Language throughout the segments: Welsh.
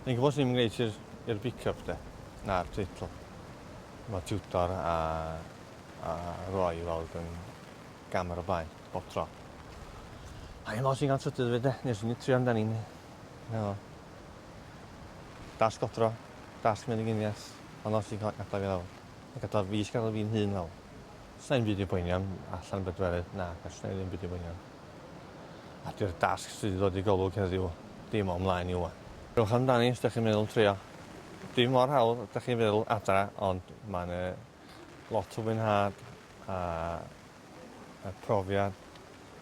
Yn gwybod sy'n ymwneud i'r pick-up de, na'r teitl. Mae tiwtor a, a roi i weld yn gam ar y blaen, bob tro. A hyn os i'n gan trydydd fyd de, nes i'n trio amdani. No. Das godro, das mynd i gynias, ond os i'n cael gadael fi lawr. Gadael fi, gadael fi'n hun lawr. Sa i'n byddi boeni am allan bedwerydd, na, gallwn i ddim byddi boeni am. A di'r dasg sydd wedi dod i golwg heddiw ddim o mlaen i ŵan. Rhowch amdani os dych chi'n meddwl trio. Dim mor hawdd ydych chi'n feddwl adra ond mae yna lot o fwynhad a, a profiad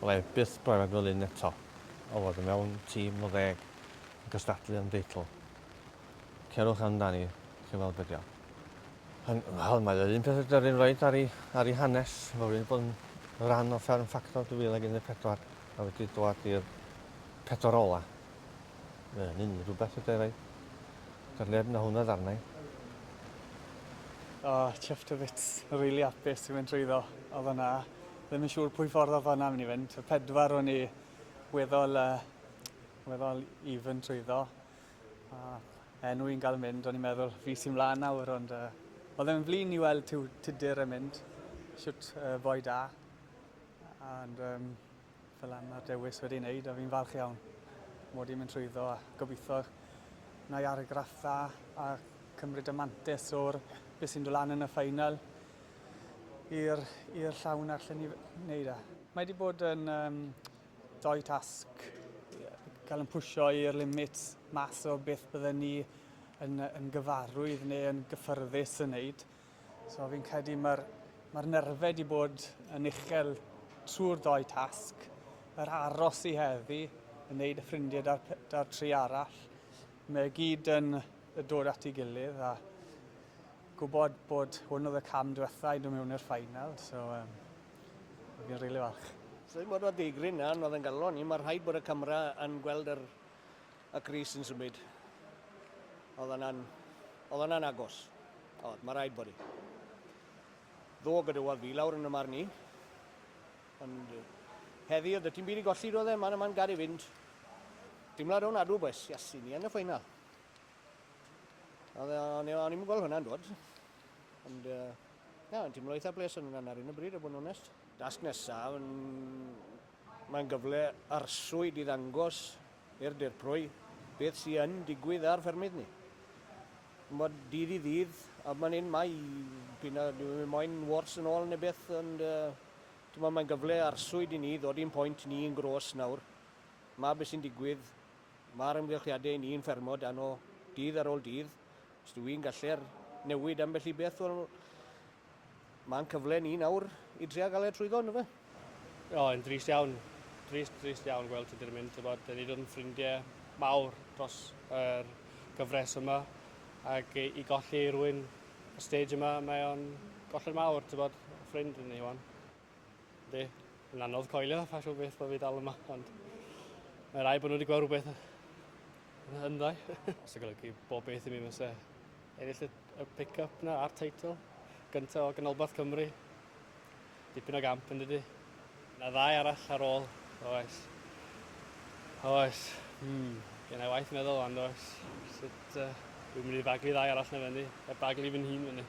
wna i byth brofiad fel un eto o fod yn mewn tîm o ddeg yn gystadlu am deitl. Cerwch amdani, chi'n weld be' 'di o. Yn, wel, mae yr un peth ydy'r un roed ar ei, ar ei hanes. Mae wedi bod yn rhan o Fferm Ffactor 2014 a wedi dod i'r pedwar ola. Mae hynny'n rhywbeth ydy rai. Do'r neb na hwnna ddarnau. O, oh, chuffed a bit. Rili really apus i fynd trwyddo o fyna. Ddim yn siŵr pwy ffordd o fyna mynd i fynd. Y pedwar o'n i weddol, uh, weddol even trwyddo. A, enw i'n gael mynd, o'n i'n meddwl fi sy'n mlaen nawr, ond uh, oedd e'n flin i weld tiw tudur yn mynd, siwt uh, boi da, ond um, fel am mae'r dewis wedi'i wneud, a fi'n falch iawn mod i'n mynd trwyddo, a gobeithio na i argraff dda, a cymryd y mantis o'r beth sy'n dod lan yn y ffeinal i'r llawn a'r lle ni wneud e. Mae wedi bod yn um, doi tasg cael yn pwysio i'r limit mas o beth bydden ni yn, yn gyfarwydd neu yn gyffyrddus yn wneud. So fi'n credu mae'r mae nerfau wedi bod yn uchel trwy'r doi tasg, yr aros i heddi, yn wneud y ffrindiau da'r, da tri arall. Mae gyd yn dod at ei gilydd a gwybod bod hwn oedd y cam diwethaf i nhw mewn i'r ffainal. So, um, O'n i'n rili falch. Sut bod o ddigryn iawn, oedd yn galon i, mae rhaid bod y camera yn gweld yr, y Cris yn symud. Oedd yna'n, oedd yna'n agos. Oedd, mae rhaid bod i. Ddo gyda fi lawr yn y marn i. Ond heddi oedd y tîm byd i golli, roedd e, man yma'n gad i fynd. Dimlad o'n adw, boes, yes, i ni yn y ffeinal. O'n i'n gweld hwnna'n dod. Ond uh, Ie, yn teimlo eitha bles yn yna ar un o bryd, a bod yn onest. Dasg nesaf, yn... mae'n gyfle arswyd i ddangos i'r dirprwy beth sydd yn digwydd ar ffermydd ni. Chimod, dydd i ddydd, a mae'n hyn mai, p'un a dyw e moyn wars yn ôl neu beth, ond uh, mae'n gyfle arswyd i ni ddod i'n pwynt ni yn gros nawr. Mae beth sy'n digwydd, mae'r ymgylchiadau ni'n ffermo dan o dydd ar ôl dydd, Os dw i'n gallu'r newid ambell i beth, wel, mae'n cyfle ni nawr i dria gael e trwyddo, ynddo fe? O, yn drist iawn. Drist, drist iawn gweld Tudur yn mynd, tybod, da ni ddim ffrindiau mawr dros yr gyfres yma, ac i golli rhywun y stage yma, mae o'n golled mawr, tybod, ffrind yn ei wan. Yndi, yn anodd coelio pa siw beth bod fi dal yma, ond mae rai bod nhw wedi gweld rhywbeth yn hynddo. Os y golygu bob beth i mi fysa ennill y, y pick-up na a'r teitl gyntaf o ganolbarth Cymru. Dipyn o gamp yn dydy. Na ddau arall ar ôl, oes. Oes, hmm, gen i waith meddwl ond oes. Sut uh, dwi'n mynd i fagu ddau arall na fyny, e baglu fy nhîn fyny.